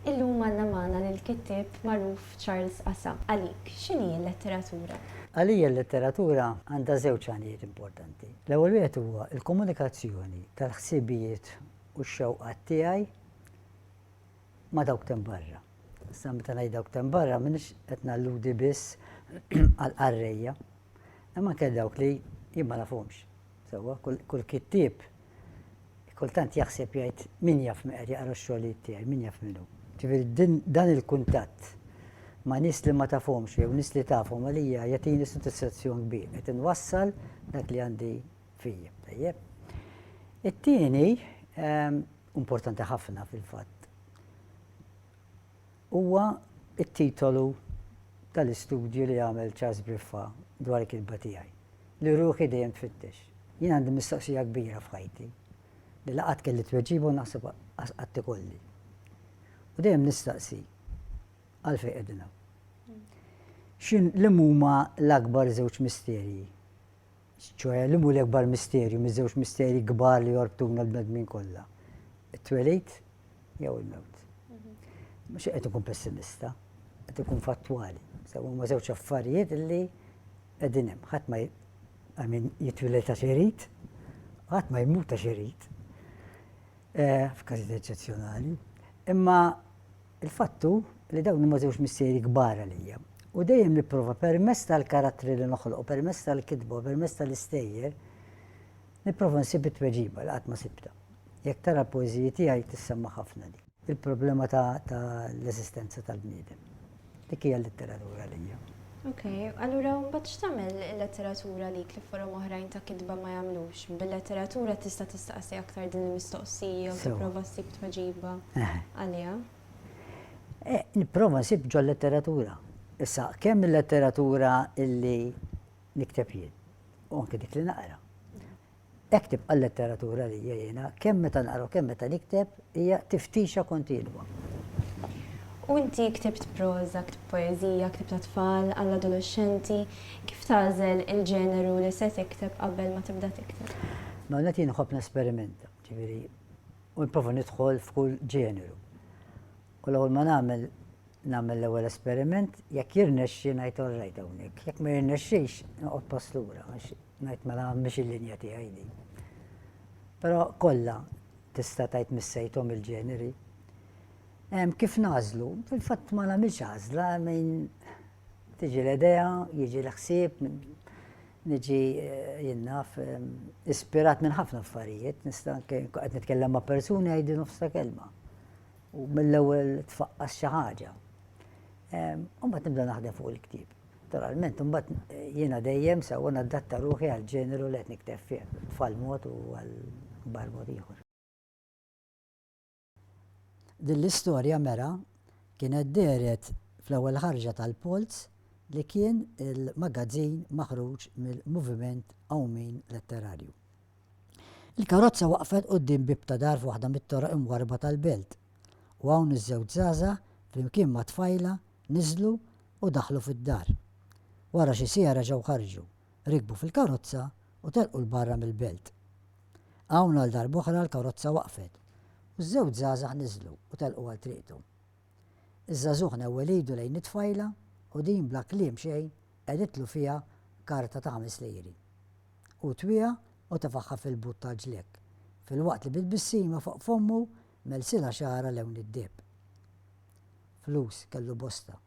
Illum għandna magħna lill-kittieb magħruf Charles Assa. Għalik, x'inhi l-letteratura? Għalija l-letteratura għandha żewġ għanijiet importanti. L-ewwel wieħed huwa l-komunikazzjoni tal-ħsibijiet u x-xewqat tiegħi ma' dawk t'hemm barra. Issa meta ngħid dawk t'hemm barra m'iniex qed nalludi biss għall-qarrejja Hemm anke dawk li jien ma nafhomx sewwa, kull kittieb kultant jaħseb jgħid min jaf min qed jaqra x-xogħlijiet tiegħi, min jaf min hu. Ġifieri dan il-kuntatt ma' nies li ma tafhomx jew nies li tafhom għalija jagħtini sodisfazzjon kbir qed inwassal dak li għandi fija. Tajjeb. It-tieni ehm, importanti ħafna fil-fatt. Huwa t-titolu tal-istudju li għamel Charles Briffa dwar il-kitba tiegħi, li ruħi dejjem tfittex. Jien għandi mistoqsija kbira f'ħajti li la qatt kelli tweġiba u naħseb qas qatt ikolli. U dejjem nistaqsi, għalfejn qegħdin hawn? X'in, liemhuma l-akbar żewġ misterji ċoħe liemu l-ikbar misterju miż-żewġ misterji kbar li jorbtuna l-bnedmin kollha? It-twelid jew il-mewt? Mhux qed ikun pessimista, qed ikun fattwali. Sew huma żewġ affarijiet li qegħdin hemm. Ħadd ma min jitwiled ta' xerid, ħadd ma jmut ta' xerid. Eh, f'każijiet eċċezzjonali. Imma Il-fatt hu li dawn huma żewġ missieri kbar għalija, u dejjem nipprova permezz tal-karattri li noħloq u permezz tal-kitba u permezz tal-istejjer, nipprova nsib it-tweġiba li qatt ma sibtha. Jekk tara l-poeżiji tiegħi tissemma' ħafna din. Il-problema ta' l-eżistenza tal-bniedem. Dik hija l-litteratura għalija. Ok, allura mbagħad x'tagħmel il-letteratura lik li forom oħrajn ta' kitba ma jagħmlux? Bil-letteratura tista' tistaqsi aktar din il-mistoqsija u tipprova ssib tweġiba għaliha. Nipprova nsib ġol-letteratura. Issa, kemm il-letteratura illi nikteb jien u anke dik li naqra. Hekk tibqa' l-letteratura għalija jiena, kemm meta naqra u kemm meta nikteb, hija tiftixa kontinwa. U inti ktibt proża, ktibt poeżija, ktibt għat-tfal, għall-adoloxxenti, kif tagħżel il-ġeneru li se tikteb qabel ma tibda tikteb? L-ewwel nett jien inħobb nesperimenta, ġifieri, u nipprova nidħol f'kull ġeneru. U l-ewwel ma nagħmel, nagħmel l-ewwel esperiment, jekk jirnexxi ngħid all right hawnhekk, jekk ma jirnexxix noqgħod pass lura. Ngħid mela mhix il-linja tiegħi din. Però kollha tista' tgħid missejthom il-ġeneri. Kif nażlu? Fil-fatt ma nagħmilx għażla minn tiġi l-idea, jiġi l-ħsieb, niġi eh, jinnaf ehm, ispirat minn ħafna affarijiet, nista' qed nitkellem ma' persuni għajdi nofsa kelma. U mill-ewwel tfaqqas xi ħaġa. Ehm, u mbagħad nibda naħdem fuq il-ktieb. Naturalment, imbagħad jiena dejjem sewwa nadatta ruħi għall-ġeneru li qed nikteb fih, għat-tfal mod u għall-kbar mod ieħor. Din l-istorja mera kienet dehret fl-ewwel ħarġa tal-Polz li kien il-magazzin maħruġ mill-Moviment Qawmien Letterarju. Il-karozza waqfet quddiem bieb ta' dar f'waħda mit-toroq imwarrba tal-belt u hawn iż-żewġ żgħażagħ flimkien ma' tfajla niżlu u daħlu fid-dar. Wara xi siegħa reġgħu ħarġu, rikbu fil-karozza u telqu 'l barra mill-belt. Hawn għal darb'oħra l-karozza waqfet u ż-żewġ żgħażagħ niżlu u telqu għal triqthom. Iż-żagħżugħ newwel idu lejn it-tfajla u din bla kliem xejn qegħditlu fiha karta ta' ħames lejri. Hu twieha u tefagħha fil-but tal-ġlekk, filwaqt li bi tbissima fuq fommu Melsina xagħarha lewn id-deheb. Flus kellu bosta.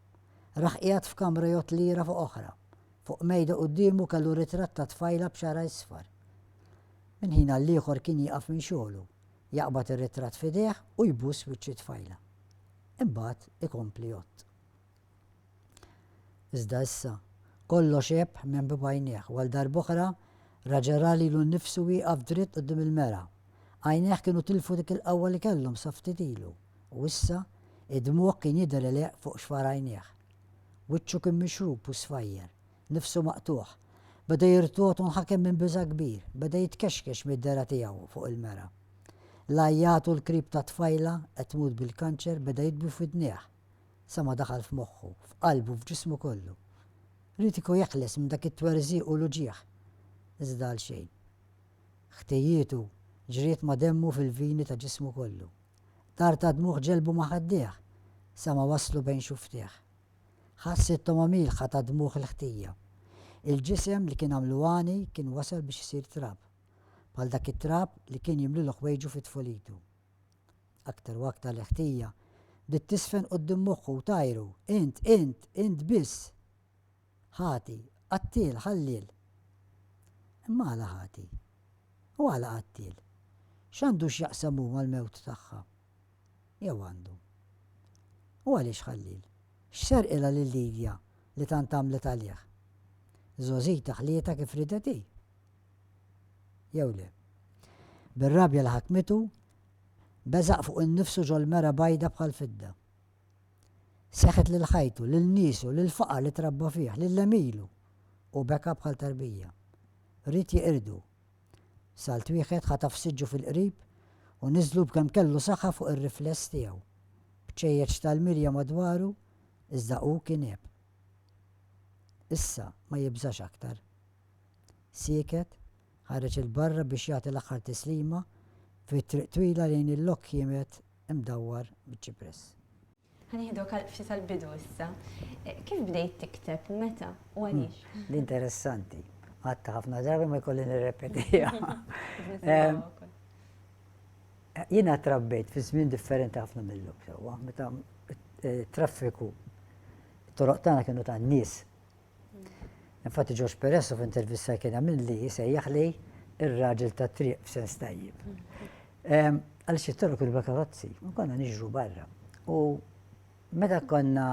Rah qiegħed f'kamra jgħodd lira fuq oħra. Fuq mejda quddiemu kellu ritratt ta' tfajla b'xagħarha isfar. Minn ħin għall-ieħor kien jieqaf minn xogħlu, jaqbad ir-ritratt f'idejh u jbuss wiċċ it-tfajla. Imbagħad ikompli jgħodd. Iżda issa, kollox għeb minn b'għajnejh u għal darb'oħra raġel ra lilu nnifsu wieqaf dritt quddiem il-mera. Għajnejh kienu tilfu dik il-qawwa li kellhom sa ftit ilu, u issa, id-dmugħ kien jidher għeleq fuq xfar għajnejh. Wiċċu kien mixrub u sfajjer, nifsu maqtugħ. Beda jirtogħod u nħakem minn biża' kbir, beda jitkexkex mid-dehra tiegħu fuq il-mera. L-għajjat u l-krib tat-tfajla qed tmut bil-kanċer beda jidwi f'widnejh. sa ma daħal f'moħħu, f'qalbu, f'ġismu kollu. Ried ikun jeħles minn dak it-twerżiq u l-uġigħ, iżda għalxejn. Ħtijietu ġriet ma' demmu fil-vini ta' ġismu kollu. Tar ta' dmugħ ġelbu ma' ħaddejh, sa ma waslu bejn xufftejh. Ħass it-togħma mielħa ta' dmugħ il-ħtija. Il-ġisem li kien għamlu għani kien wasal biex isir trab. Bħal dak it-trab li kien jimlilu ħwejġu fi tfulitu. Aktar u aktar l-ħtija bdiet tiżfen quddiem moħħu u tgħajru, Int, int, int biss! Ħati, qattiel, ħalliel! Imma għala ħati? U għala qattiel? X'għandu x'jaqsam hu mal-mewt tagħha? Jew għandu? U għaliex ħalliel? X'serqilha lil Livia li tant għamlet għalih? Żgħożita ħlietha kif ridet hi. jew le. Bir-rabja li ħakmitu, beżaq fuq innifsu ġol-mera bajda bħall-fidda. Seħħet lil ħajtu, lil niesu, lill-faqar li trabba fih, lil għemilu, u beka bħal tarbija. Ried jeqirdu. Salt wieħed ħataf siġġu fil-qrib u niżżlu b'kemm kellu saħħa fuq ir-rifless tiegħu. Bċejjeċ tal-mirja madwaru, iżda hu kien għeb. Issa ma jibżax aktar. Sieket, ħareġ 'il barra biex jagħti l-aħħar tislima fi triq twila lejn il-lok kiemet imdawwar miċ-ċipress. Ħa nieħdok għal ftit għall-bidu issa. Kif bdejt tikteb u meta u għaliex? L-interessanti. Għadta ħafna drabi ma jkolli nirrepetiha. Jiena trabbejt fi żmien differenti ħafna mill-lum sewwa, meta traffiku toroq tagħna kienu tan-nies Infatti George Peresso f'intervista kien għamilli jisejjaħ li ir-raġel ta' triq f'sens tajjeb. Ehm, għal xi torok il-vakarozzi, konna niġru barra. U meta konna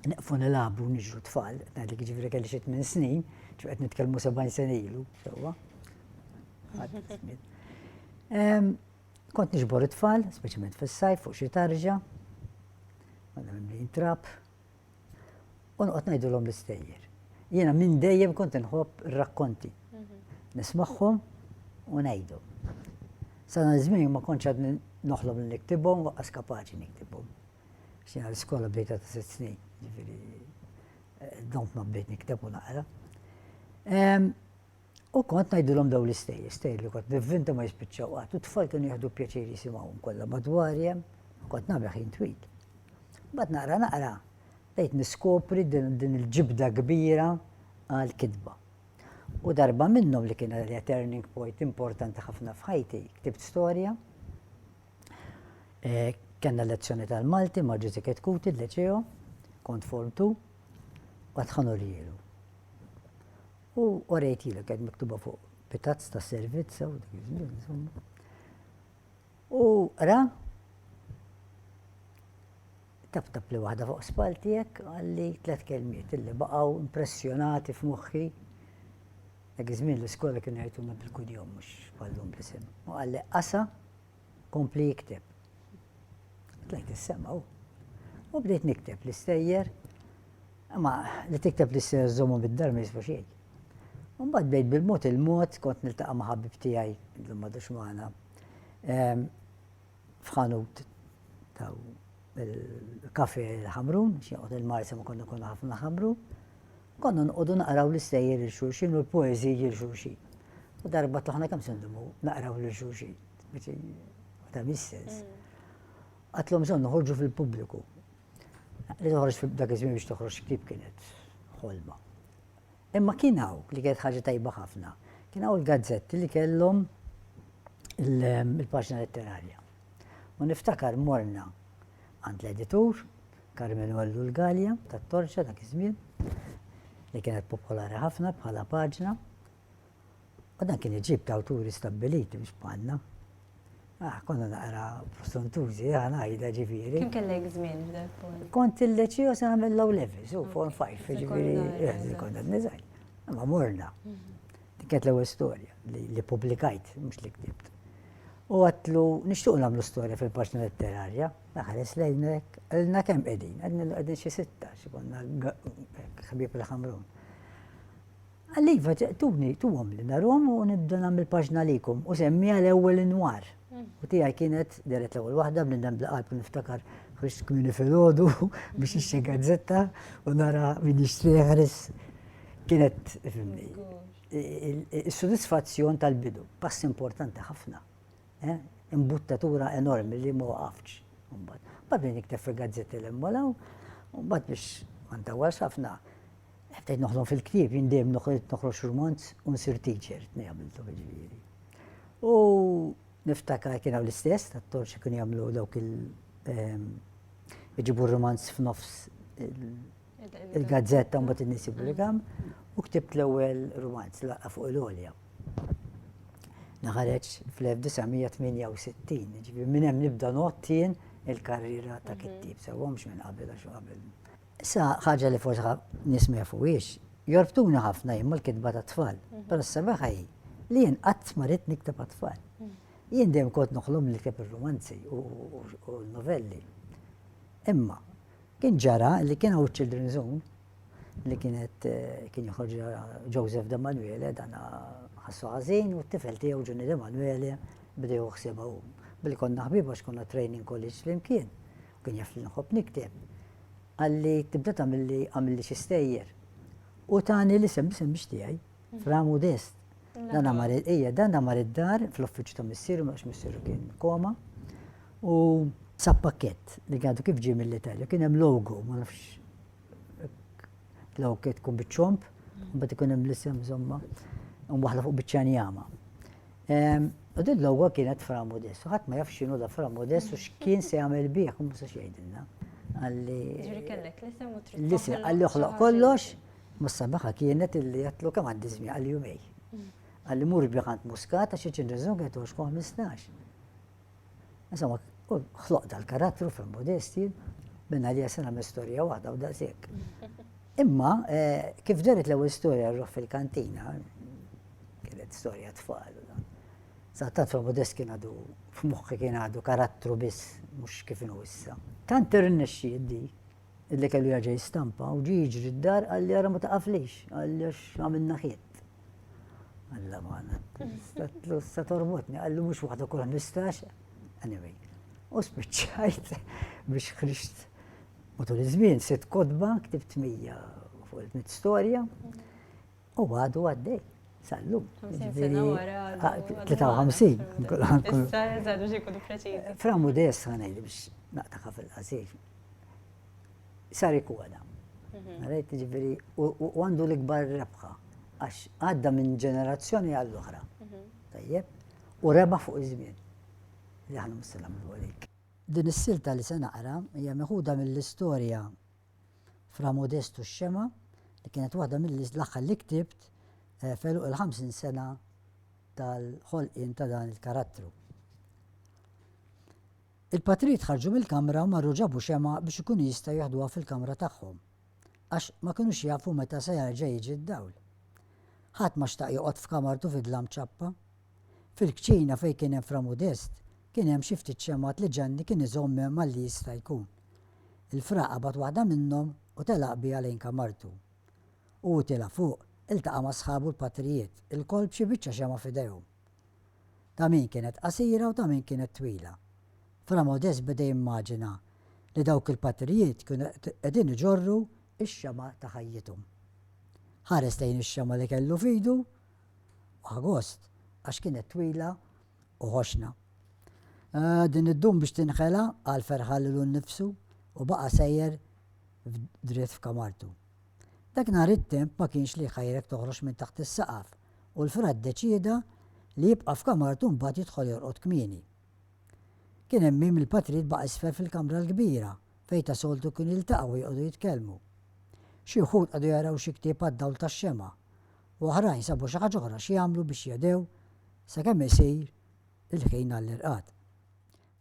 neqfu nilabu niġru tfal, għadli ġifri kelli xit minn snin, ċuqet nitkelmu 70 sena ilu, sewa. Kont nġbor it-tfal, speċiment fil-sajf, fuq xie tarġa, għadna minn trap, u noqgħod ngħidulhom l-istejjer. Jiena minn dejjem kont inħobb ir-rakkonti. Mhm. Nismagħhom u ngħidu. Sana żmien ma kontx għad noħlob li niktibhom waqqas kapaċi niktibhom. Xina l-iskola bdejta ta' sitt snin, ġifieri eh, dont ma bdejt nikteb u naqra. U kont ngħidilhom dawn l-istejjer, stejjer li kont nivvinta ma jispiċċaw qatt, u t-tfal kienu jieħdu pjaċir jisimgħuhom kollha madwari hemm, u kont nagħmel ħin twil. Mbagħad naqra naqra bdejt niskopri din il-ġibda kbira għall-kitba. U darba minnhom li kien għalija turning point importanti ħafna f'ħajti, ktibt storja, eh, kellna lezzjoni tal-Malti ma' Ġużi Ketkuti l-Leċeo, kont form tu, għadħanu li jilu. U orejtilek qed miktuba fuq pitazz ta' servizz u dik iż-żmien insomma. U ra tap tap li waħda fuq spall tiegħek għalli tliet kelmiet illi baqgħu impressjonati f'moħħi. Dak iż-żmien l-iskola kienu jgħiduna bil-kudjom mhux bħallum bl-isem. U qalli qasa Kompli ikteb. Tlajt is-sema u u bdejt nikteb l-istejjer, imma li tikteb l-istejjer żommu bid-dar ma jiswa xejn. Mbagħad bdejt bil-mod il-mod kont niltaqa' ma' ħabib tiegħi li madux magħna f'ħanut ta' il-kafè l-Ħamrun, x'joqgħod il-Marsa ma konna konna ħafna l-Ħamrun. Konna noqogħdu naqraw l-istejjer lil xulxin u l-poeżiji lil xulxin. U darba tlaħna kemm se ndumu naqraw lil xulxin. Ta' mis-sens. Għatlhom bżonn noħorġu fil-pubbliku. Li toħroġ dak iż-żmien biex toħroġ ktieb kienet ħolma. Imma kien hawn li kienet ħaġa tajba ħafna. Kien hawn il-gazzetti li kellhom il-paġna letterarja. U niftakar morna għand l-editur, Carmenu Ellu l-Galea, tat-Torċa dak iż-żmien, li kienet popolari ħafna bħala paġna. U dan kien iġib ta' awturi stabbiliti mhux bħalna. Ah, konna naqra prosuntużi, ah, ngħidha ġifieri. Kim kellek żmien f'dak Kont il-leċija se nagħmel low level, so form 5, ġifieri, eh, konna niżgħid. Ma morna. Mhm. Dik kienet l-ewwel storja li publikajt, mhux li ktibt. U għatlu, nixtuq namlu storja fil-paġna letterarja, naħares lejn hekk, għalna kemm qegħdin, għedna qegħdin xi sitta, xi konna ħabib il-ħamrun. Għalliva, tuni, tuhom li narom u nibda nagħmel paġna likum u semmi għal ewwel inwar. Mm. U tiegħi kienet deret l-ewwel waħda bnidem bla qalb niftakar ħriġt kmini fil-ħodu biex ixxi gazzetta u nara min jixtri ħris kienet fimni. Is-sodisfazzjon tal-bidu, pass importanti ħafna, imbuttatura enormi li ma waqaftx. Mbagħad, mbagħad bdejt nikteb fil-gazzetti li hemm hawn, u mbagħad biex ma ntawwalx ħafna, bdejt noħlom fil-ktieb, jien dejjem noħroġ noħroġ rumanz u nsir teacher, tnejn għamilthom jiġifieri. U niftakar kien hawn l-istess tat-torċi kienu jagħmlu dawk il- iġibu r-rumanz f'nofs il-gazzetta mbagħad in-nies jippubblikaw u ktibt l-ewwel rumanz laqqa fuq il-għolja. Naħareġ fl-1968, ġifieri minn hemm nibda nottien il-karriera ta' mhm. kittib sewwa mhux minn qabel għax qabel. Issa ħaġa li forsi nismeha fuqiex, jorbtuna ħafna jien mal-kitba ta' tfal, mhm. però s-sabaħa hi li jien qatt ma rid nikteb għat-tfal. Mhm. Jien dejjem kont noħlom li kteb ir-romanzi u l-novelli. Imma Kien ġara li kien hawn children zone li kienet kien joħorġ Joseph De Manuele dan ħassu ħażin u t-tifel tiegħu Ġunni De Manuele bdew joħsibha hu. Billi konna ħbieb għax konna training college flimkien u kien jaf li nħobb nikteb. Għalli tibda tagħmilli għamilli xi stejjer. U tani li semmi semmix tiegħi Ramu dest. Dan għamar ija, dan għamar id-dar fl-uffiċċju ta' missieru, ma missieru kien koma. U sa pakket li għadu kif ġie mill-Italja, kien hemm logo, ma nafx l-awket tkun biċ-ċomp, mbagħad ikun hemm l-isem żomma, waħda fuq biċ-ċanjama. Ehm, u din l-logo kienet fra modest, u ħadd ma jaf x'inhu da fra modest u x'kien se jagħmel bih, u musa xejdilna. Għalli. Ġifieri kellek l-isem u trid. L-isem għalli oħloq kollox Ma s-sabaħa kienet illi għatlu kam għandi żmien għal jumej. Għalli mur bih għand Muscat għax iċin reżun għet 15. Insomma, xloq dal-karattru fil modesti minna li jasena me storja waħda u daqsek. Imma, eh, kif daret l-ewwel storja rruħ fil-kantina, kienet storja tfal. Sattat fil modest kien għadu, f'muħħi kien għadu karattru biss, mux kif issa. Tant irnexxi dik illi kellu jaġa jistampa u ġi jiġri d-dar għalli għara ma taqaflix, għalli għax għamilna ħiet. Għalla maħna, statlu sa torbotni, għallu mux waħda kull mistax, anyway. U spiċċajt biex ħriġt matul iż-żmien sitt kodba, ktibt mija fuq il-mit storja, U għadu għaddej, sal-lum. 53. Fra modest għana li biex naqtaqa fil-qasir. Sari kuwada. Għarajt mhm. ġifiri, u għandu l-ikbar rebħa, għax għadda minn ġenerazzjoni għall-oħra. Mhm. Tajjeb, u reba fuq iż-żmien. Li għanum s-salam għalik. Din is-silta li se naqra hija meħuda mill-istorja Fra Modestu Xxema, li kienet waħda mill-aħħar li ktibt f'għeluq il-50 sena tal-ħolqien ta' dan il-karattru. Il-patrid ħarġu mill-kamra u marru ġabu xema biex ikunu jistgħu jaħduha fil-kamra tagħhom, għax ma kinux jafu meta se jarġa' jiġi d-dawl. Ħadd ma xtaq joqgħod f'kamartu fid-dlam ċappa, Fil-kċina fejn kien hemm Fra Modest, kien hemm xi ftit xemgħat li Ġanni kien iżomm hemm malli jista' jkun. Il-Fra qabad waħda minnhom u telaq biha lejn kamartu. U hu tiela' fuq, iltaqa' ma' sħabu l-patrijiet, ilkoll b'xi biċċa xemgħa f'idejhom. Ta' min kienet qasira u ta' min kienet twila. Fra Modest beda jimmaġina li dawk il-patrijiet kienu qegħdin iġorru x-xemgħa ta' ħajjithom. Ħares lejn ix-xemgħa li kellu f'idu Agost għax kienet twila u ħoxna. Din iddum biex tinħela, qal ferħan lilu nnifsu u baqa' sejjer dritt f'kamartu. Dak nhar it-temp ma kienx li jħajrek toħroġ minn taħt is-saqaf u l-fra ddeċieda li jibqa' f'kamartu mbagħad jidħol jorqod kmieni. Kien hemm mim il-patrid baqa' isfel fil-kamra l-kbira fejn ta' soltu kienu jiltaqgħu u joqogħdu jitkellmu. Xi wħud qagħdu jaraw xi ktieb għad-dawl tax-xemgħa u oħrajn sabu xi ħaġa oħra x'jagħmlu biex jehdew sakemm isir il-ħin għall-irqad.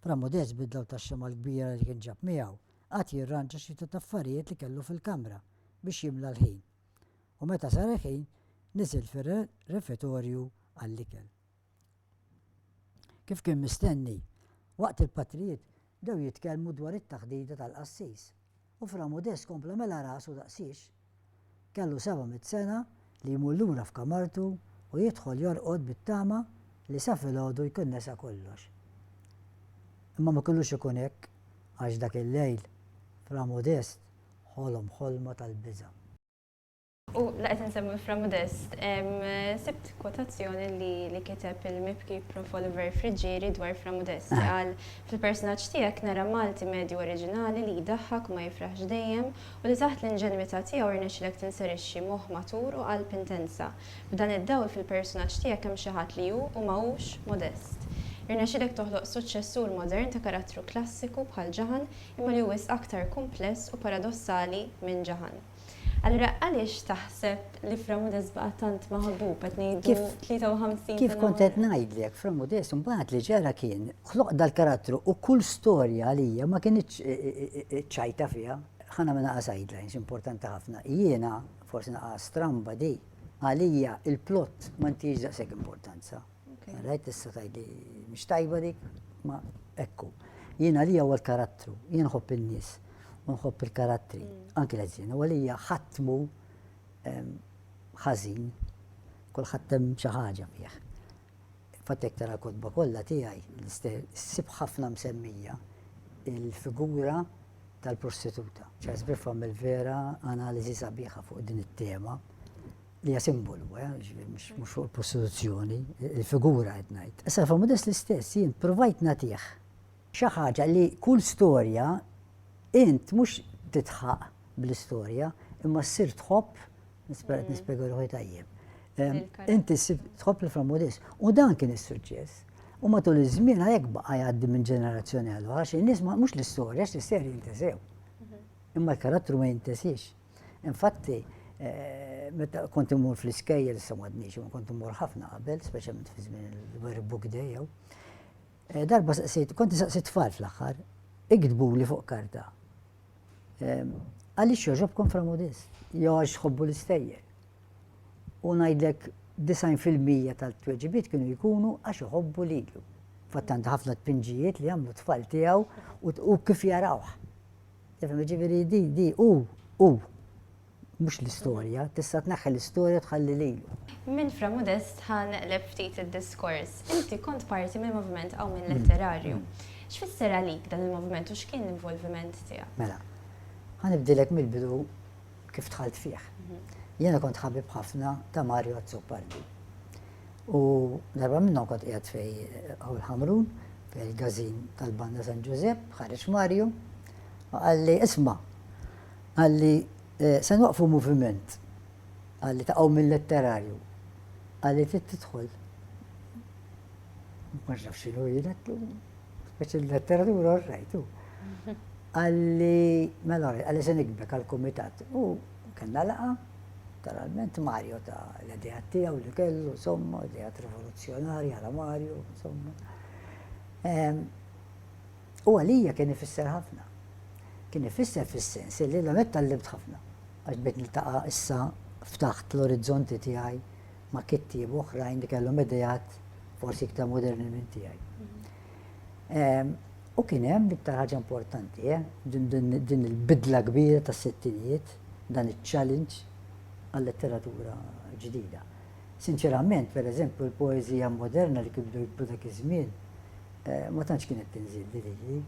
Fra Modest bidla u tax-xemgħa l-kbira li kien ġab miegħu, qagħad jirranġa xi ftit affarijiet li kellu fil-kamra biex jimla l-ħin, u meta sar il-ħin niżel fir-refetorju għall-ikel. Kif kien mistenni, waqt il-patrijiet bdew jitkellmu dwar it-taħdita tal-qassis, u Fra Modest kompla mela rasu daqsiex. Kellu seba' mitt sena li jmur lura f'kamartu u jidħol jorqod bit-tama li sa filgħodu jkun nesa kollox. Imma ma kellux ikun hekk għax dak il-lejl Fra Modest ħolom ħolma tal-biża'. U la qed insemmu Fra Modest, sibt kwotazzjoni li kiteb il-mibki Prof. Oliver Friggieri dwar Fra Modest li qal, Fil-persunaġġ tiegħek nara Malti medju oriġinali li jdaħħak u ma jifraħx dejjem u li taħt l-inġenwità tiegħu rnexxilek tinserixxi moħħ matur u qalb intensa. F'dan id-dawl fil-persunaġġ tiegħek hemm xi ħadd li hu u ma hux Modest. Irnexxilek toħloq suċċessur modern ta' karattru klassiku bħal Ġaħan imma li hu wisq aktar kumpless u paradossali minn Ġaħan. Allura għaliex taħseb li Framudes baqa' tant maħbub qed ngħidu 53 Kif kont qed ngħidlek Framudes imbagħad li ġara kien ħloq dal-karattru u kull storja għalija ma kienx e, e, e, ċajta fiha. Ħana minn naqas guidelines importanti ħafna. Jiena forsi naqas stramba di għalija il-plott ma ntix daqshekk importanza. Rajt tista' tgħidli mhix tajba dik, ma ekku. Jiena li huwa l-karattru, jien ħobb in-nies u nħobb il-karattri, mm. anki l-ħażin, u għalija ħatmu ħażin, kulħadd hemm xi ħaġa fih. Fatek tara kodba kollha tiegħi ssib ħafna msemmija il-figura tal-prostituta. Ċas bifhom il-vera analiżi sabiħa fuq din it-tema. li hija simbolu, eh, ġifieri mhux fuq il-prostituzzjoni, il-figura qed ngħid. Issa fa' Modest l-istess jien provajt nagħtih xi ħaġa li kull storja int mhux titħaq bl-istorja imma ssir tħobb nispera qed mm. nispjega ruħi tajjeb. Inti tħobb li fra Modest u dan kien is-suċċess. U matul iż-żmien għalhekk baqa' jgħaddi minn ġenerazzjoni għal għax in-nies mhux l-istorja x'l-istorja jintesew. Mhm. Imma l-karattru ma jintesiex. Infatti, eh, meta kont imur fl-iskejjel, sa madniex, ma kont imur ħafna qabel, speċjalment fi żmien il-Very Book Day jew. Eh, darba saqsejt, kont saqsejt tfal fl-aħħar, iktbu li fuq karta. Eh, għaliex joġobkom framudis, joġ xħobbu l-istejjer. U ngħidlek 90% tal-tweġibiet kienu jkunu għax iħobbu lilu. Fattant ħafna tpinġijiet li għamlu tfal tiegħu u kif jarawh. Tifhem, jiġifieri di, di hu, hu. Mhux l-istorja, tista' tneħħi l-istorja u tħalli lilu. Minn Fra Modest ħa neqleb ftit id-diskors. Inti kont parti mill-moviment Qawmien Letterarju. X'fisser għalik dan il-moviment u x'kien l-involviment tiegħek? Mela, ħa nibdilek mill-bidu. kif dħalt fih. Jiena kont ħabib ħafna ta' Mario Azzopardi. U darba minnhom kont qiegħed fej Ħawl Ħamrun, fej il-gazin tal-Banda San Ġużepp, ħareġ Mario, u qalli isma' qalli eh, se nwaqfu moviment qalli taqgħu mill-letterarju qalli trid tidħol ma nafx xinu jilettu, speċi l-letteratura u rajtu. Għalli, mela, għalli se nikbek għal-komitat. U kena laqa, naturalment Mario ta' l-idea tiegħu li kellu, insomma, idea rivoluzzjonarja għala Mario, insomma. U għalija kien ifisser ħafna. Kien ifisser fis-sens li l-għamet tal-libt ħafna. Għax bit niltaqa issa ftaħt l-orizzonti tiegħi ma' kittieba oħrajn li kellhom ideat forsi iktar moderni minn tiegħi. Ehm, u kien hemm l-iktar ħaġa importanti, eh, din il-bidla kbira tas-sittinijiet, dan iċ-challenge għal-letteratura ġdida. Sinċerament, per eżempju, l-poezija moderna li kibdu jibdu dak iż-żmien, eh, ma tantx kienet tinżil li li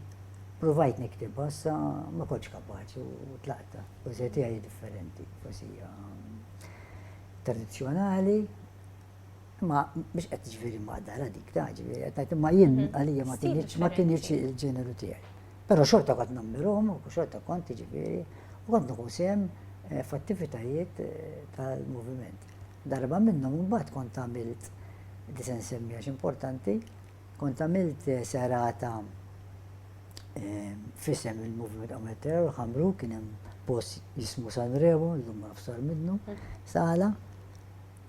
provajt niktibha sa ma kontx kapaċi u tlaqta. Poezija tiegħi differenti, poezija tradizzjonali ma biex qed ġifieri ma dara dik ta' ġifieri qed ngħid imma jien mhm. għalija ma kienx ma kienx il-ġeneru tiegħi. Però xorta kont nammirhom u xorta kont ġifieri u kont nieħu sehem eh, f'attivitajiet eh, tal-moviment. Darba minnhom imbagħad kont għamilt li se nsemmi għax importanti Kont għamilt serata f'isem il-Moviment Qawm Terror Ħamru kien hemm post jismu San Remo, llum ma nafx sar minnu, sala.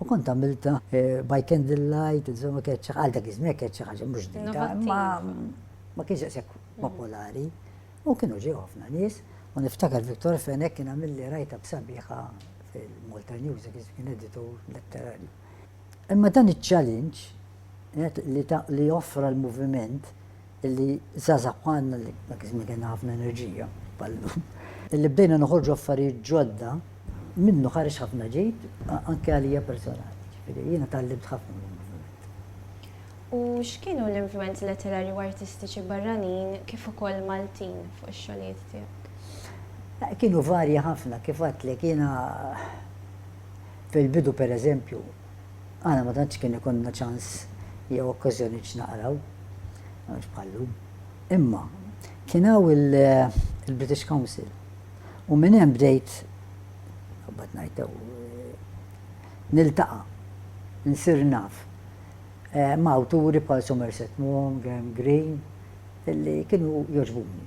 U kont għamilta eh, by candlelight, insomma kienet għal dak iż-żmien kienet xi ħaġa mhux ġdida, ma kienx daqshekk mm. popolari. U kienu ġew ħafna nies, u niftakar Viktor Fenek kien għamilli rajta b'sabiħa fil-Malta News, kien editur letterarju. Imma dan iċ-ċalinġ li offra l-moviment li żgħażagħ bħalna li dak iż-żmien kellna ħafna enerġija bħal llum, li bdejna noħorġu affarijiet ġodda, minnu ħareġ ħafna ġid anke għalija personali. Jiġifieri jiena tgħallimt ħafna mill-moviment. U x'kienu l-influwenzi letterarji u artistiċi barranin kif ukoll Maltin fuq ix-xogħlijiet tiegħek? Kienu varji ħafna, kif għedtlek jiena Fil-bidu, per eżempju, aħna ma tantx kien ikollna ċans jew okkażjoni biex naqraw, mhux bħal-lum. Imma kien hawn il-British Council u minn hemm bdejt naqbad ngħid niltaqa' nsir naf eh, ma' awturi bħal Somerset Maugham, Graham Greene, illi kienu jogħġbuni.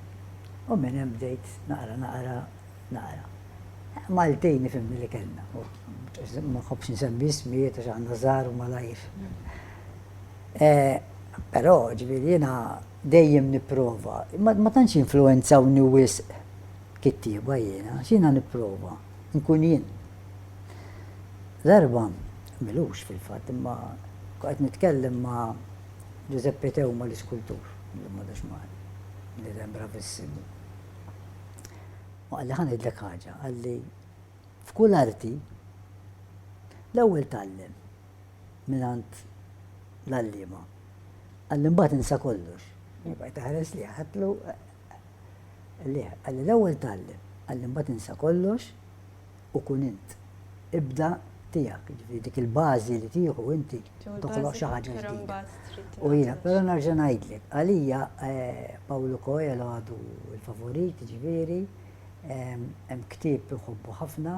U minn hemm bdejt naqra naqra naqra. Maltin ifhimni li kellna. Ma nħobbx nsemmi ismijiet għax aħna żgħar u malajr. Però ġifieri jiena dejjem nipprova. Ma tantx jinfluwenzawni wisq kittieba jiena, x'jiena nipprova, nkun jien. Darba, m'ilux fil-fatt, imma qed nitkellem ma' Ġużeppi Teuma l-iskultur, illum m'għadux magħna, bniedem bravissimu. U qalli ħa ngħidlek ħaġa, qalli f'kull arti l-ewwel tgħallem mingħand l-għalliema. Qalli mbagħad insa kollox. Bajt taħares li ħatlu li qalli l-ewwel tgħallem, qalli mbagħad insa kollox u kun int. Ibda tiegħek, jiġifieri dik il-bażi li tieħu inti toħloq xi ħaġa ġdida. U jiena, però nerġa' ngħidlek, għalija Pawlu Coelho għadu l-favorit, jiġifieri hemm ktieb inħobbu ħafna,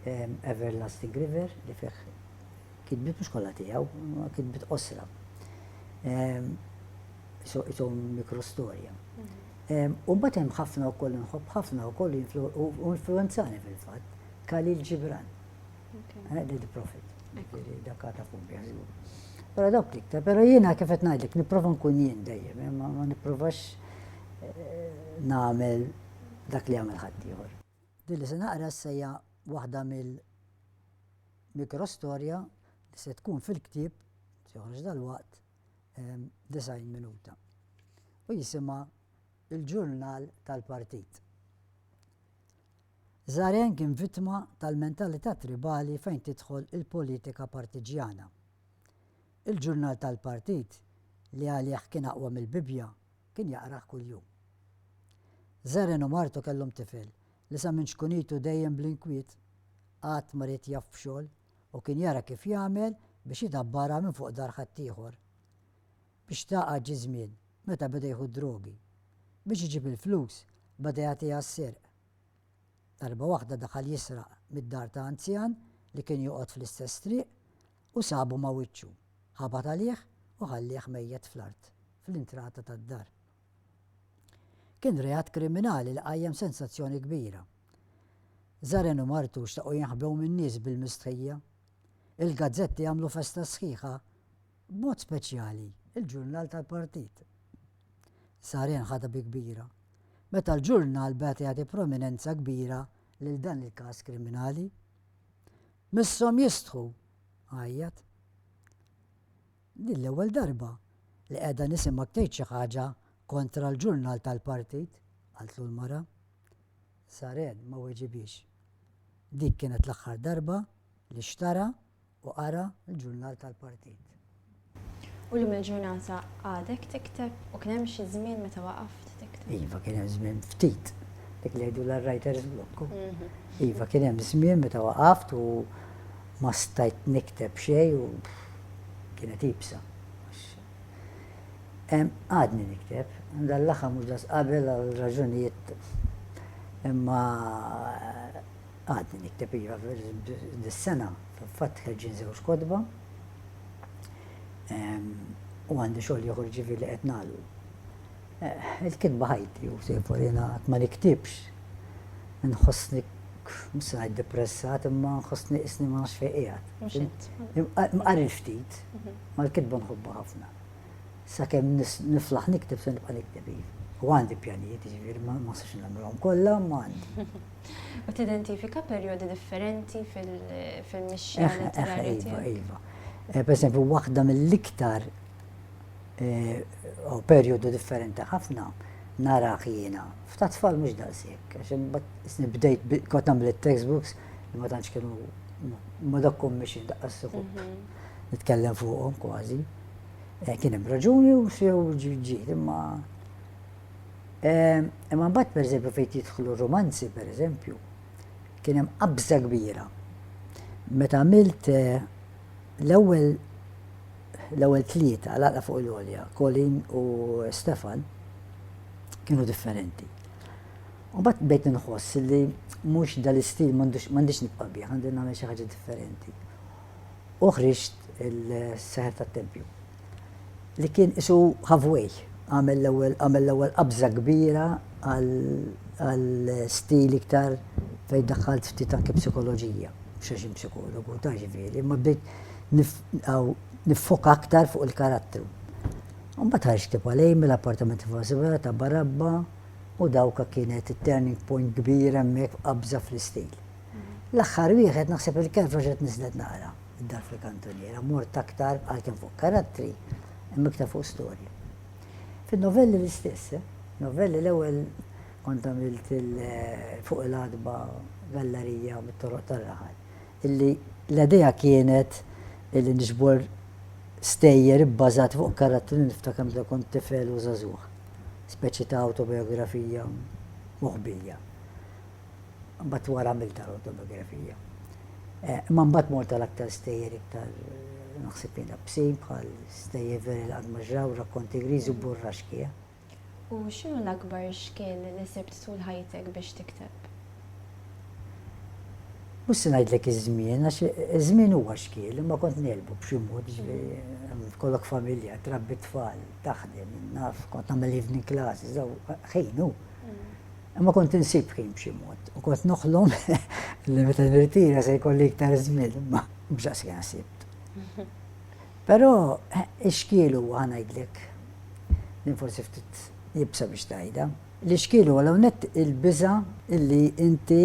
Everlasting River, li fih kitbiet mhux kollha tiegħu, kitbiet qosra. isom mikrostorja. Mhm. U mbagħad hemm ħafna wkoll nħobb ħafna wkoll influenzani fil-fatt Khalil Gibran. Eh, Dead Prophet. Dakka ta' fumbja żgur. Però dawk tikta, però jiena kif qed ngħidlek nipprova nkun jien dejjem, eh, ma nipprovax eh, nagħmel dak li għamel ħadd ieħor. Din li se naqra sejja waħda mill mikrostorja li se tkun fil-ktieb, se joħroġ dal-waqt, 90 minuta u jisimha Il-Ġurnal tal-Partit. Zaren kien vittma tal-mentalità tribali fejn tidħol il-politika partiġjana. Il-Ġurnal tal-Partit li għalih kien aqwa mill-Bibbja kien jaqrah kuljum. Zaren u martu kellhom tifel li sa minn ċkunitu dejjem bl-inkwiet, qatt ma ried jaf b'xogħol, u kien jara kif jagħmel biex idabbarha minn fuq dar ħaddieħor. Biex tagħqad ġie żmien meta beda jieħu d-drogi. Biex iġib il-flus beda jagħtiha s-sirq. Darba waħda daħal jisraq mid-dar ta' anzjan li kien joqgħod fl-istess triq u sabu ma' wiċċu, ħabat għalih u ħallieh mejjet fl-art fl-intrata tad-dar. Kien reat kriminali li qajjem sensazzjoni kbira. Zaren u martu xtaqu jinħbew min-nies bil-mistħija. Il-gazzetti għamlu festa sħiħa, b'mod speċjali l-ġurnal tal-partit. Zaren ħadha bi kbira meta l-ġurnal beda jagħti prominenza kbira lil dan il-każ kriminali. Misshom jistħu! għajjat. Din l-ewwel darba li qiegħda nisimgħek tgħid xi ħaġa kontra l-ġurnal tal-partit, qaltlu l-mara. Saren ma weġibhiex. Dik kienet l-aħħar darba li xtara u qara l-ġurnal tal-partit. U llum il-ġurnata għadek tikteb u kien hemm xi żmien meta waqaft tikteb? Iva kien hemm żmien ftit. Dik li jgħidulha writer's block. Iva kien hemm żmien meta waqaft u Ma stajt nikteb xejn u kienet iebsa. Għadni nikteb. Dan l-aħħar mhux daqs qabel għal raġunijiet imma għadni nikteb iva. Dis-sena fil-fatt ħerġin żewġ kotba u għandi xogħol ieħor ġifieri li qed nagħlqu. Il-kitba ħajti u sejfu li jiena qatt ma niktibx. Inħossni, mhux se ngħid depressat, imma nħossni qisni ma nafx fejn qiegħed. Mhux int. Imqarril ftit, ma l-kitba nħobbha ħafna. Sakemm niflaħ nikteb se nibqa' nikteb hi. U għandi pjanijiet, jiġifieri ma nistax nagħmilhom kollha, imma għandi. U tidentifika perjodi differenti fil-mixja letterarja tiegħek? Iva, iva. Per eżempju, waħda mill-iktar u perjodu differenti ħafna narah jiena. F'ta' tfal mhux daqshekk, għax imbagħad isni bdejt kont nagħmel it-textbooks li ma tantx kienu ma dokkom mhix daqqa s-suħub. Mhm. Nitkellem fuqhom kważi. Eh, kien hemm raġuni u sew ġiet imma eh, imma mbagħad pereżempju fejn jidħlu romanzi pereżempju kien hemm qabża kbira. Meta għamilt eh, L-ewwel l-ewwel tlieta l-għaqda fuq il-għolja, Colleen u Stefan, kienu differenti. U mbagħad bdejt inħoss li mhux dal-istil m'għandix nibqa' bih, għandi nagħmel xi ħaġa differenti. U ħriġt il-seħer tat-tempju. li kien qisu halfway, għamel l-ewwel għamel l-ewwel qabża kbira għal stil iktar fejn daħħalt ftit anke psikoloġija, mhux għax psikologu ta' ġifieri, imma bdejt niffoka aktar fuq il-karattru. Mbagħad ħarġt kif għalej mill-appartament fuq Sibela ta' Barabba u dawka kienet it-turning point kbira hemmhekk f'qabża fl-istil. L-aħħar wieħed naħseb il-kelb reġgħet niżlet naqra. Id-dar fil-kantuniera mort aktar għalkemm fuq karattri imma iktar fuq storja. Fin-novelli l-istess, eh? Novelli l-ewwel kont għamilt fuq il-għatba gallarija mit-toroq tar-raħal. Illi l-idea kienet illi niġbor stejjer ibbażat fuq karattri li niftakar meta kont tifel u żagħżugħ. Speċi ta' awtobiografija moħbija. mbagħad wara għamilta l-autobiografija. Eh, imma mbagħad mort għal aktar stejjer iktar naħseb jena bsin bħal stejjer veri l-għadmaġraw, rakkonti griżi u burra xkija. U xinu l-akbar xkien li sibt tul ħajtek biex tikteb? Mus ngħidlek iż-żmien, għax iż-żmien huwa xkiel, imma kont nelbu b'xi mod kollok familja, trabbi tfal, taħdem, naf, kont nagħmel evening classes, ħejnu. Imma kont insib ħin b'xi mod u kont noħlom li meta nirtira se jkolli iktar żmien imma mhux daqskemm sibt. Però ix-xkiel huwa ngħidlek din forsi ftit jibsa biex tajda. L-ixkiel huwa l nett il-biża illi inti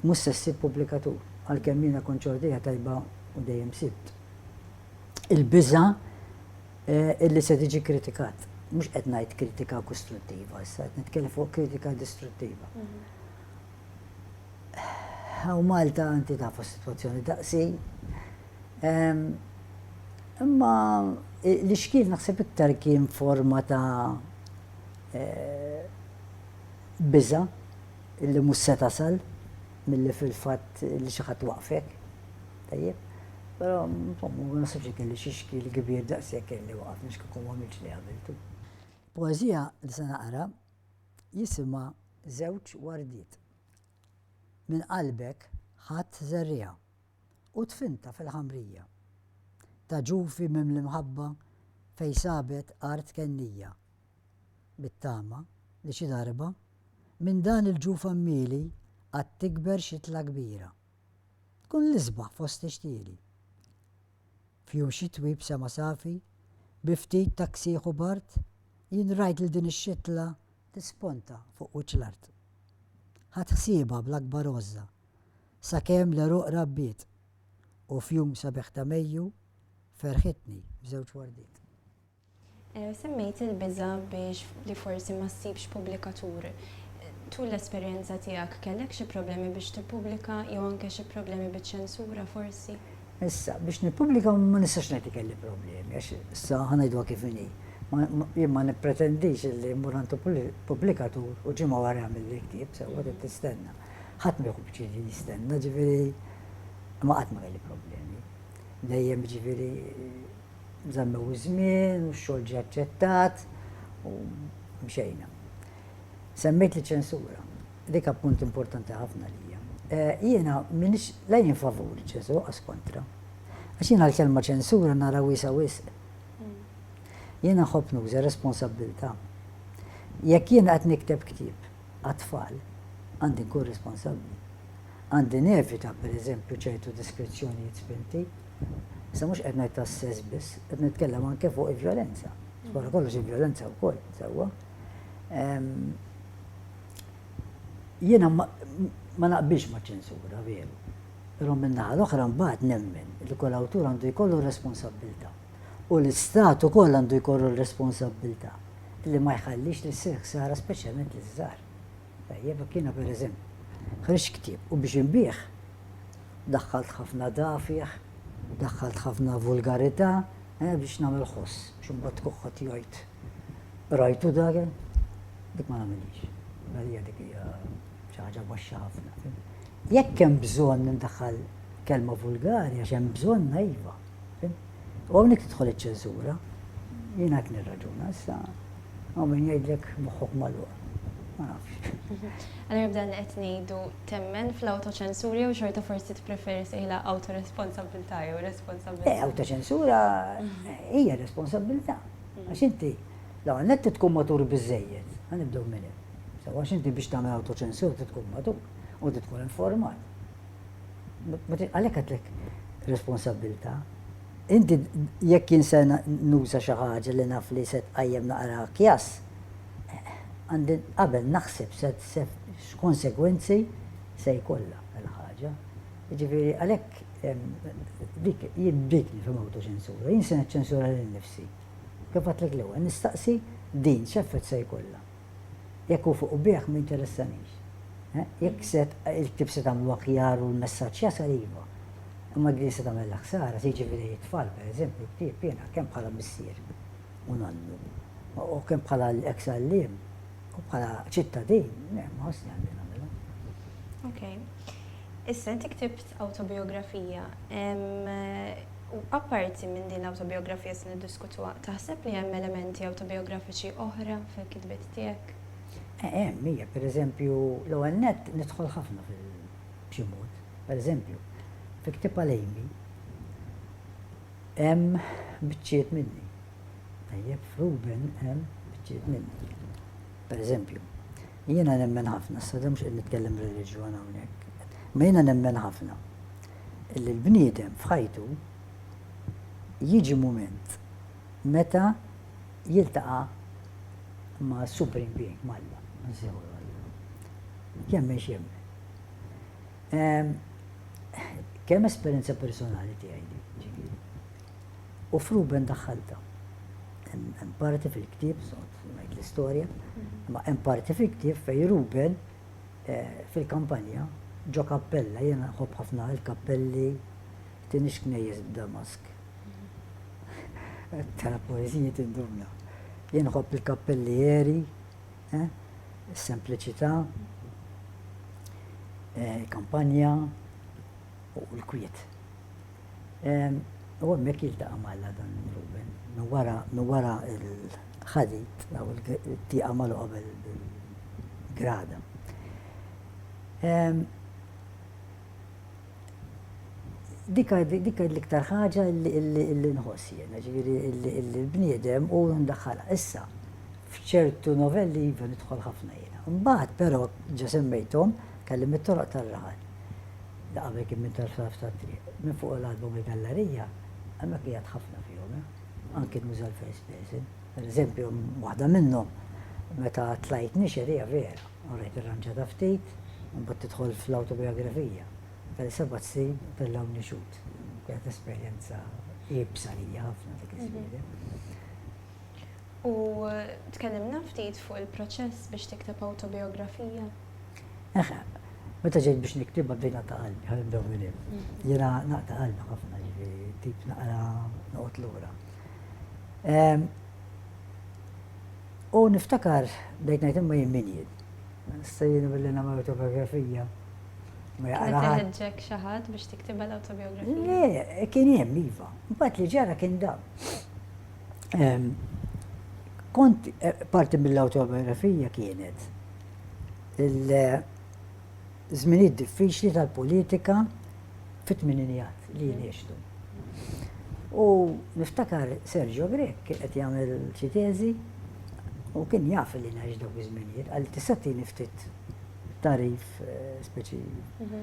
mhux se ssib pubblikatur għalkemm jiena kont ċordija tajba u dejjem sibt. Il-biża illi se tiġi kritikat. Mhux qed ngħid kritika kustruttiva issa, qed nitkellem fuq kritika distruttiva. Hawn mhm. Malta inti tafu s-sitwazzjoni daqsi. Imma li xkien naħseb iktar kien forma ta' e, biża illi mhux se tasal milli fil-fatt li xi ħadd waqfek. Tajjeb? Però, insomma, ma nasibx li kelli xi xkiel kbir daqshekk kelli waqaf nix kieku ma għamiltx li għamiltu. Il-poeżija li se naqra jisimha Żewġ wardiet. Minn qalbek ħadt żerriegħa u dfintha fil-ħamrija ta' ġufi mimli mħabba fejn sabet art kennija bit-tama li xi darba minn dan il-ġuf għammieli għad tikber xitla kbira. Tkun l-isbaħ fost ix-xtieli. F'jum xitwi b'sema safi, bi ftit taksieħ u bard, jien rajt lil din ix-xitla tisponta fuq wiċċ l-art. Ħadt ħsiebha bl-akbar għożża, sakemm l-għeruq rabbiet, u f'jum sabiħ ta' Mejju ferħitni b'żewġ wardiet. Semmejt il-biża' biex li forsi ma ssibx pubblikatur. Tul l-esperjenza tiegħek kellek xi problemi biex tippubblika jew anke xi problemi biċ-ċensura forsi? Issa, biex nippubblika ma nistax ngħid li kelli problemi għax issa ħa ngħiduha kif inhi. Jien ma nippretendix illi mmur għand pubblikatur u ġimgħa wara jagħmilli ktieb sewwa trid tistenna. Ħadd ma jieħu pjaċir li jistenna ġifieri imma qatt ma kelli problemi. Dejjem ġifieri. Żammew iż-żmien u x-xogħol ġie aċċettat u mxejna. Semmejt liċ-ċensura. Dik ha punt importanti ħafna għalija. Jiena m'iniex la jien favur iċ-ċensura u qas kontra. Għax jiena l-kelma ċensura nara wiesgħa wisq. Jiena nħobb nuża responsabbiltà. Jekk jiena qed nikteb ktieb għat-tfal, għandi nkun responsabbli. Għandi nevita, pereżempju, ċertu deskrizzjonijiet spinti. Issa mhux qed ngħid tas-sess biss, qed nitkellem anke fuq il-vjolenza. Wara kollox il-vjolenza wkoll, sewwa. Jiena ma naqbilx ma' ċensura veru. Però min-naħa l-oħra mbagħad nemmen li kull awtur għandu jkollu responsabbiltà. U l-istat ukoll għandu jkollu responsabbiltà li ma jħallix li ssir ħsara speċjalment liż-żgħar. Tajjeb, jiena per eżempju, ħriġt ktieb u biex inbigħ, daħħalt ħafna dafjigħ, daħħalt ħafna vulgarità, eh, biex nagħmel ħoss, biex imbagħad tkun ħadd jgħid, rajtu dak? Dik ma nagħmilhiex. Għalija dik hija xi ħaġa baxxa ħafna. Jekk hemm bżonn indaħħal kelma vulgari għax hemm bżonn iva. U hawnhekk tidħol iċ-ċensura. Jien hekk nirraġuna issa hawn min jgħidlek moħħok magħluq. Ma nafx. Allora b'dan li qed ngħidu temmen fl-awtoċensura jew xorta forsi tippreferi sejħilha awtoresponsabilità jew responsabilità. Eh, awtoċensura hija responsabilità. Għax inti l-ewwel nett tkun matur biżejjed, ħanibdew minn hemm. Sewa għax inti biex tagħmel awtoċensura tkun matur u tkun informat. Għalhekk għedlek responsabbiltà. Inti jekk jien se nuża xi ħaġa li naf li se tqajjem naqra kjas, għandi qabel naħseb se x'konsegwenzi se jkollha l-ħaġa. Jiġifieri għalhekk dik jien dik nifhem awtoċensura, jien se niċċensura lil nifsi. Kif għedtlek l-ewwel, nistaqsi din x'effett se jkollha. Jekk hu fuq ubiegħ m'interessanix. Jekk il-ktieb se tagħmlu aħjar u l-messaġġ jasal iva. Imma din se tagħmilha ħsara, se jiġibu lejn it-tfal, pereżempju, l-ktieb jiena kemm bħala missier u nonnu u kemm bħala eks għalliem u bħala ċittadin, le, ma ħossni għandi nagħmilha. Ok. Issa inti ktibt awtobijografija. U apparti minn din l-awtobijografija se niddiskutuha, taħseb li hemm elementi awtobijografiċi oħra fil-kitbiet tiegħek? Hemm, hija. Per eżempju, l-ewwel nett nidħol ħafna fil-, b'xi mod. Per eżempju, fi ktieb għal Amy hemm biċċiet minni. Tajjeb, f'Ruben hemm biċċiet minni. Per eżempju, jiena nemmen ħafna, issa mhux qed nitkellem reliġjon hawnhekk, imma jiena nemmen ħafna li l-bniedem f'ħajtu jiġi mument meta jiltaqa' ma' Supreme Being, ma' Alla. Jemmen x'jemmen. Kemm esperjenza personali tiegħi din, ġifieri. U f'Ruben daħħaltha. Hemm parti fil-ktieb, ngħid l-istorja, imma hemm parti fil-ktieb fejn Ruben fil-kampanja, ġo kappella, jiena nħobb ħafna l-kappelli, tinix knejjes b'damask. Tara poeżiji tindumna. Jien nħobb il-kappelli eri, eh, sempliċità, eh, kampanja, u l-kwiet. U hemmhekk jiltaqa' ma' Alla dan Ruben. Minn wara minn wara l-ħadid jew il-tieqa magħluqa bil-grada. Dik dik l-iktar ħaġa li nħoss jien, jiġifieri l-bniedem u ndaħħalha. Issa, f'ċertu novelli iva nidħol ħafna jiena. Imbagħad però, ġa semmejthom, tkellimt mit-toroq tar-raħal. li qabel kien minn tarf-tarf tat-triq, minn fuq il-qalba mill-gallarija, hemmhekk qiegħed ħafna fihom, anki nuża l-first person. Pereżempju, waħda minnhom, meta tlajt nixher, hija vera, u rajt irranġata ftit, imbagħad tidħol fl-awtobiografija tal-sebat snin fil-Lawn Nixhud. Kienet esperjenza iebsa għalija ħafna dik iż-żwiegħa. U tkellimna ftit fuq il-proċess biex tikteb awtobiografija? Eh, meta ġejt biex niktibha bdejt naqta' qalbi, ħalli ndew minn hemm. Jiena naqta' qalbi ħafna ġifieri tip naqra noqgħod lura. Ehm, u niftakar bdejt ngħid imma jien min jien. Sejjin billi nagħmel autobiografija. Ma jaqraħ. xi ħadd biex tiktibha l-autobiografija. Le, kien hemm iva. Mbagħad li ġara kien dan. Ehm, kont eh, parti mill-autobiografija kienet il-żminijiet diffiċli tal-politika fit-tmininijat li jien għextu. U niftakar Sergio Grek kien qed jagħmel xi teżi u kien jaf li ngħix dawk iż-żminijiet, għal tista' tieni ftit tarif eh, speċi mhm.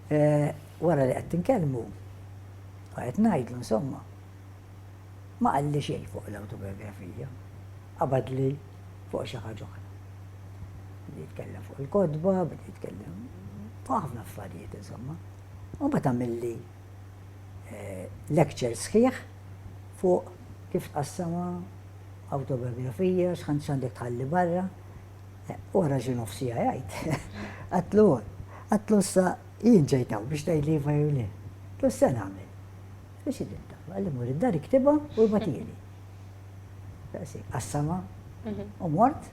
Wara li qgħedt inkellmu, u qed ngħidlu insomma, ma qalli xejn fuq l-awtobiografija, qabadli fuq xi ħaġa oħra. Beda jitkellem fuq il-kotba, beda jitkellem fuq ħafna affarijiet insomma. U mbagħad għamilli lecture sħiħ fuq kif tqassama awtobiografija, x'għandek tħalli barra. Wara xi nofsija jgħid, għatlu, għatlu issa jien ġejtaw biex tgħid li iva jew le. Għatlu issa nagħmel. Biex idibta, għalli mur id-dar iktibha u batili. Daqsi, qassama, mhm. u mort,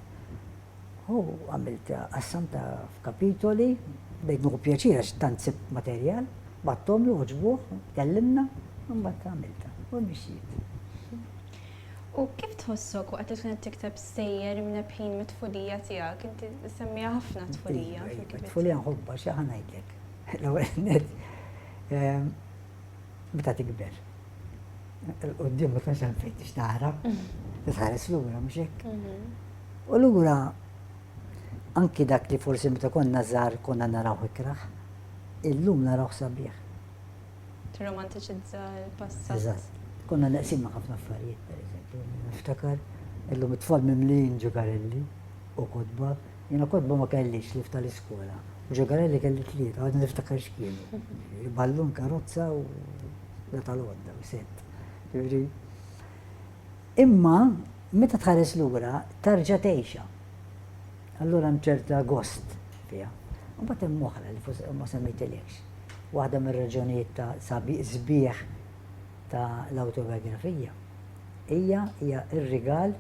u għamilt qassam ta' f'kapitoli, bejt nuħu pjaċira x'tant sib materjal, battom l-uġbuħ, kellimna, mbagħad għamilta, u mxiet. U kif tħossok waqt li tkun qed tikteb stejjer imnebbħin mit-tfulija tiegħek? Inti semmiha ħafna t-tfulija fil-kitbiet. It-tfulija nħobbha xi ħa ngħidlek. L-ewwel nett meta tikber. Il-quddiem ma tkunx hemm fejn tix tara, titħares lura mhux hekk. U lura anki dak li forsi meta konna żgħar konna narawh ikrah, illum narawh sabiħ. tirromantiċizza l-passat. Eżatt. Konna neqsin ma' ħafna affarijiet, pereżempju, niftakar illum it-tfal mimlijin ġugarelli u kotba, jiena kotba ma kellix li ftal iskola Ġugarelli kelli tlieta, għadni niftakar x'kienu. Ballun, karozza u la tal-għodda u set. Imma meta tħares lura tarġa' tgħixha. Allura hemm ċerta gost fiha. Imbagħad hemm oħra li forsi ma semmejtilekx. Waħda mir-raġunijiet ta' sabiq sbieħ ta' l-awtobiografija hija hija r-rigal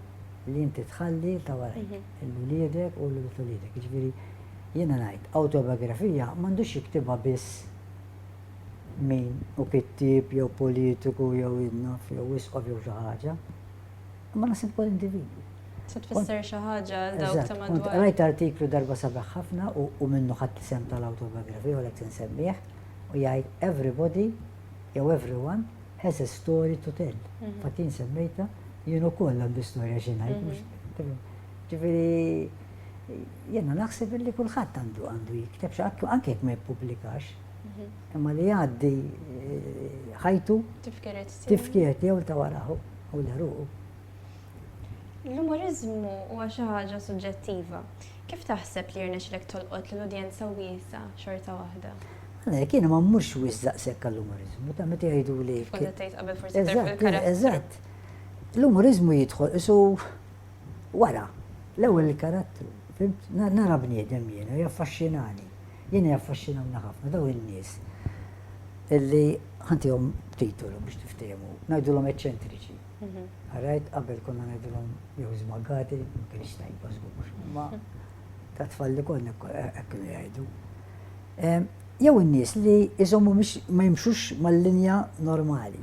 li inti tħalli ta' warajk, lil uliedek u lil uliedek. Jiġifieri jiena ngħid awtobiografija m'għandux jiktibha biss min hu kittieb jew politiku jew idnof jew isqof jew xi ħaġa. Ma naħseb ukoll individwi. Se tfisser xi ħaġa għal dawk ta' madwar. Kont qrajt artiklu darba sabiħ ħafna u minnu ħadt l-isem tal-awtobiografija u lek se nsemmih u jgħid everybody jew everyone has a story to tell. Fatt jien semmejta jien ukoll għandi storja xi ngħid. Ġifieri jiena naħseb li kulħadd għandu għandu jikteb xi ħadd anke jekk ma jippublikax. Imma li jgħaddi eh, ħajtu tifkiret tiegħu ta' waraħu. u l-għeruq. L-umoriżmu huwa xi ħaġa suġġettiva. Kif taħseb li jirnexxilek tolqot lil udjenza wiesgħa xorta waħda? Għalhekk jiena ma mmurx wisq daqshekk għall-umoriżmu, ta' meta jgħiduli. Kont qed tgħid qabel forsi terf il-karattru. Eżatt. L-umoriżmu jidħol isu wara l-ewwel il-karattru. Nara bniedem jiena, jaffaxxinani. Jiena jaffaxxinawni ħafna dawn in-nies illi ħantihom titolu biex tiftehmu, ngħidulhom eċċentriċi. Għarajt, qabel konna ngħidulhom jew żmagati, ma kienx tajba żgur, ma ta' tfal li konna hekk kienu jgħidu. Jew in-nies li jżommu ma jimxux mal-linja normali.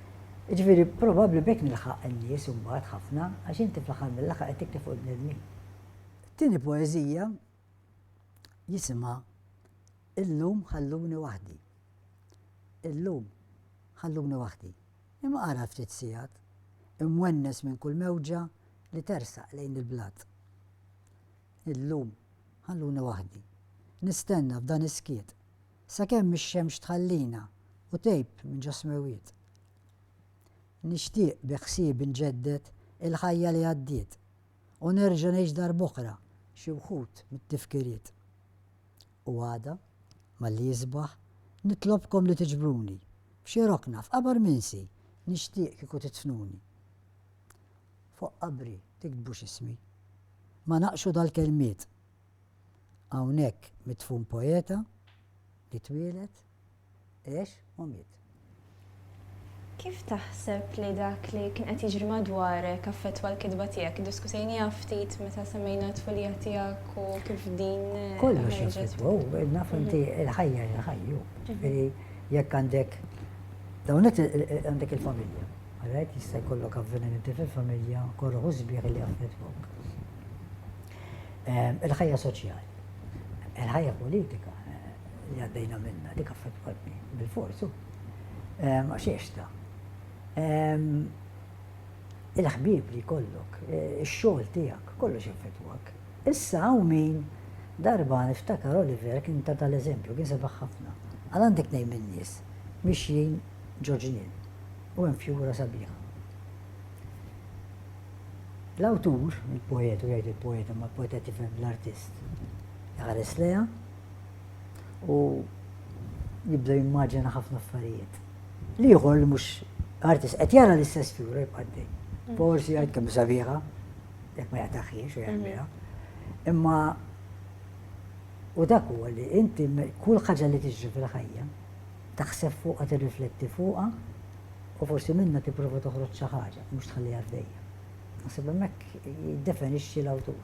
Jiġifieri probabbli b'hekk nilħaq in-nies imbagħad ħafna għax inti fl-aħħar mill-aħħar qed tikteb fuq il-bnedmin. It-tieni poeżija jisimha Illum ħalluni waħdi. Illum ħalluni waħdi. Imma ara ftit sigħat, imwennes minn kull mewġa li tersaq lejn il-blat. Illum ħalluni waħdi. Nistenna f'dan is-skiet Sakemm ix-xemx tħallina u tgħib minn ġo smewwiet. Nixtieq bi ħsieb inġedded il-ħajja li għaddiet u nerġa' ngħix darb'oħra xi wħud mit-tifkiriet. U għada, malli jisbaħ, nitlobkom li tiġbruni f'xi rokna f'qabar minsi nixtieq kieku tidfnuni. Fuq qabri tiktbux ismi. Ma naqxu dal-kelmiet Hawnhekk midfun poeta li twieled, għex u miet. Kif taħseb li dak li kien qed jiġri madwarek affettwa l-kitba tiegħek? Iddiskutejniha ftit meta semmejna t-tfulija tiegħek u kif din ħarġet. Kollox jaffettwa hu, naf inti l-ħajja hija ħajja hu. Ġifieri jekk għandek dawn it għandek il-familja. Alright, jista' jkollok avvenimenti fil-familja, korroħ u sbieħ li jaffettwawk. Il-ħajja soċjali, il-ħajja politika li għaddejna minnha dik affettwatni bil-forsu għax għexta. Il-ħbieb li jkollok, ix-xogħol tiegħek, kollox jaffettwak. Issa hawn min darba niftakar Oliver kien ta tal-eżempju, kien sebaħ ħafna. Għal għandek tnejn min-nies mixjin ġo ġnien u hemm fjura sabiħa. L-awtur, il-poeta, u jgħid il-poeta imma l-poeta qed jifhem l-artist, iħares lejha u jibda jimmaġina ħafna affarijiet. L-ieħor li mhux artist qed jara l-istess figura jibqa' dej. Mm. Forsi jgħid kemm sabiħa, jekk ma jaqtaħiex u jgħidha. Mm-hmm. Imma u dak huwa li inti kull ħaġa li tiġri fil-ħajja taħseb fuqha tirrifletti fuqha U forsi minnha tipprova toħroġ xi ħaġa, mhux tħalliha għaddejja. Naħseb hemmhekk jiddefinixxi l-awtur.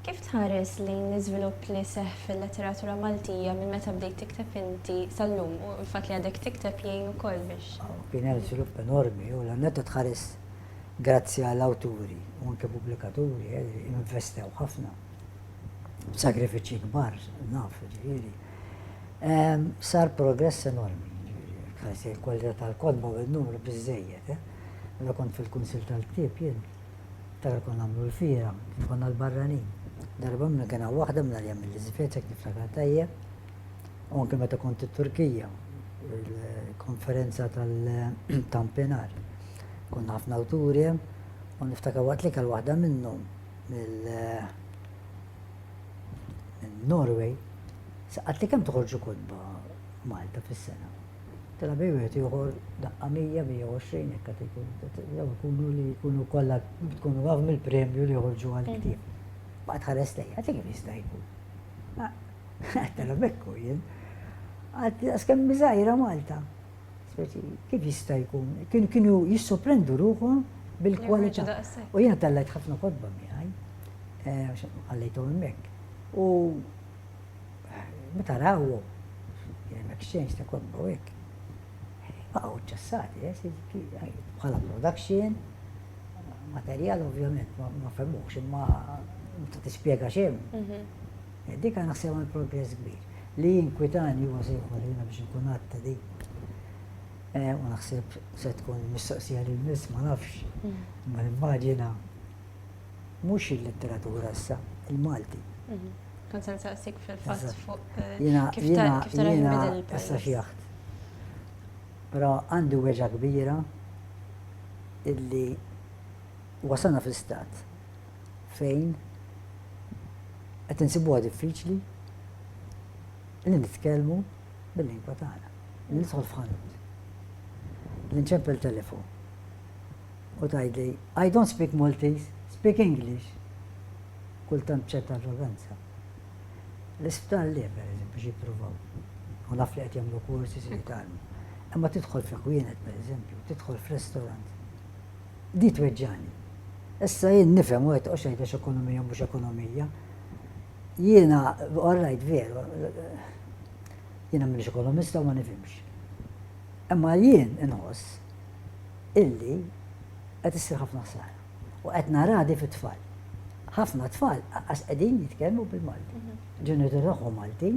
Kif tħares lejn l-iżvilupp li seħħ fil-letteratura Maltija minn meta bdejt tikteb inti sal-lum u l-fatt li għadek tikteb jgħin ukoll biex. Kien hemm żvilupp enormi u l-għan netta tħares grazzi għal awturi u anke pubblikaturi eh, li investew ħafna b'sagrifiċċji kbar naf ġifieri. Sar progress enormi, ħajsi l-kwalità tal-kotba u n-numru biżżejjed. Meta kont fil-Kunsill tal-Ktieb jien, tar kont nagħmlu l-fira, kif konna l-barranin. Darba minn kien hawn waħda minn għalija mill-Iżvezja kif niftakar tajjeb. U anke meta kont it-Turkija, il-konferenza tal-Tampinar. Konna ħafna awturi u niftakar waqt li kell waħda minnhom mill- Norway, saqat li kemm toħorġu kotba Malta fis-sena. Tela bej wieħed ieħor daqqa 120 hekk qed ikun. Jew ikunu li jkunu kollha tkunu għav mill-premju li joħorġu għal mm. ktieb. Baqgħet ħares lejja, qed kif jista' jkun. Tela bekku jien. Għad kemm miżajra Malta. Speċi, kif jista' jkun? Kienu kienu jissoprendu ruħhom bil-kwalità. U jiena tallajt ħafna kodba miegħi, eh, għallejtu hemmhekk. U eh, meta rawhom, kien hemm exchange ta' kodba u hekk. Baqgħu ċċassati, eh, bħala production, materjal ovvjament ma femux, imma ma tispjega xejn. Mhm. Dik għandha sew għal progress kbir. Li jinkwitani huwa se jħolli jiena biex nkun għadd ta' din. Eh, u naħseb se tkun mistoqsija lil miss ma nafx. Mm. Ma nimmaġina mhux il-letteratura issa, il-Malti. Mhm. Kun se nsaqsik fil-fatt fuq eh, kif tara il-bidel il-pajjiż. Però għandu weġa kbira illi wasana fl-istat fejn qed insibuha diffiċli li nitkellmu bil-lingwa tagħna. Li nidħol f'ħanut. Li nċempel telefon. U tgħidli, I don't speak Maltese, speak English. Kultant ċerta arroganza. L-isptar li per eżempju xi jippruvaw. U naf li qed jagħmlu kursi si jitalmu. Imma tidħol f'ekwienet per eżempju, tidħol f'restorant. Di tweġġagħni. Issa jien nifhem u qed toqgħodx tgħid għax ekonomija u mhux ekonomija. Jiena, all right, veru, jiena m'iniex ekonomista u ma nifhimx. Imma jien inħoss illi qed issir ħafna ħsara. U qed naradi fit-tfal. Ħafna tfal għas qegħdin jitkellmu bil-Malti. Mhm. Ġenitur tagħhom Malti,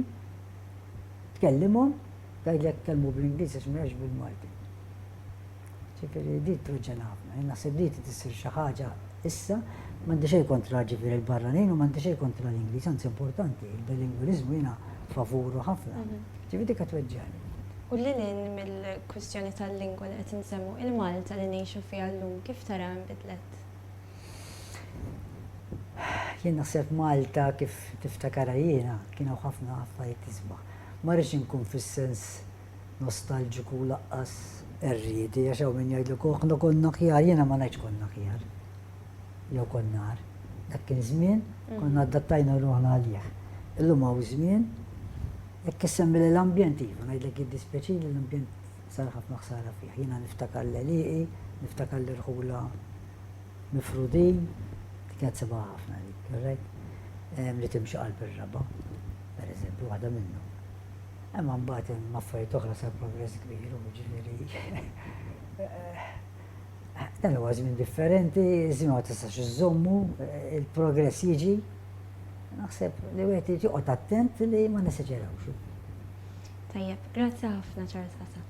tkellimhom, tgħidlek tkellmu bl-Ingliż għax mhux bil-Malti. Ġifieri din tproġġena ħafna. Jien naħseb li trid issir xi ħaġa issa. M'għandi xejn kontra ġifieri l-barranin u m'għandi xejn kontra l-Ingliż, anzi importanti, il-bilingwiliżmu jiena favuru ħafna. Ġifieri dik qed tweġġagħli. U lil hinn mill-kwistjoni tal-lingwa li qed insemmu, il-Malta li ngħixu fiha llum kif taraha nbidlet? Jien naħseb Malta kif niftakarha jiena kien hawn ħafna affarijiet isbaħ. Ma rridx inkun fis-sens nostalġiku u laqqas qerriedi għax hawn min jgħidlek oh aħna konna aħjar, jiena ma ngħidx konna aħjar. Jew konna nar. Dak kien żmien mm. konna adattajna ruħna għalih. Illum hawn żmien jekk issemmi l-ambjent iva, ngħidlek jiddispjaċi li l-ambjent sar ħafna ħsara fih. Jiena niftakar l-eliqi, niftakar l-irħula mifrudin, kienet seba ħafna dik, li timxi qalb ir-raba, per eżempju, waħda minnhom. Imma mbagħad hemm affarijiet oħra sar progress kbir, u ġifieri dan huwa żmien differenti, żmien ma tistax iżommu, il-progress jiġi. Naħseb li wieħed jiġi qod attent li ma niseġerawx. Tajjeb, grazzi ħafna Charles Asa.